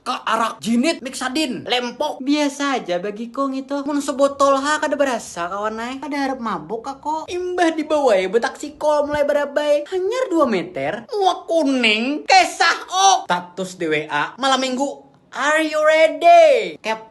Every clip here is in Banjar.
Ka arak jinit miksa din lempok. Biasa aja bagi ko ngitu. Mun sebotol ha kada berasa kawan ai. Kada harap mabuk ka ko. Imbah dibawai betaksi call mulai barabai. Hanyar dua meter. Muak kuning. Kesah ok. Status di WA malam minggu, Are you ready? Kep.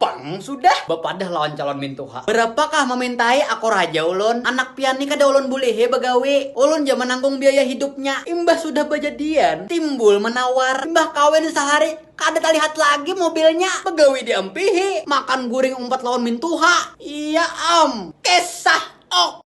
Pang sudah bapadah lawan calon mintuha. Barapakah mamintai akor haja ulun, anak pian ni kada ulun bulihi bagawi. Ulun ja mananggung biaya hidupnya. Imbah sudah bajadian, timbul manawar. Imbah kawin sahari, kada talihat lagi mobilnya. Bagawi diampihi, makan guring umpat lawan mintuha. Iya am. Kisah ok.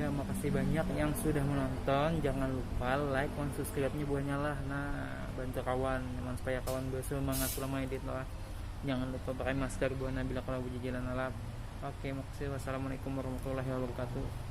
ya makasih banyak yang sudah menonton jangan lupa like dan subscribe nya buahnya lah nah bantu kawan memang supaya kawan bersemangat selama edit lah jangan lupa pakai masker buahnya bila kalau berjalan alam oke makasih wassalamualaikum warahmatullahi wabarakatuh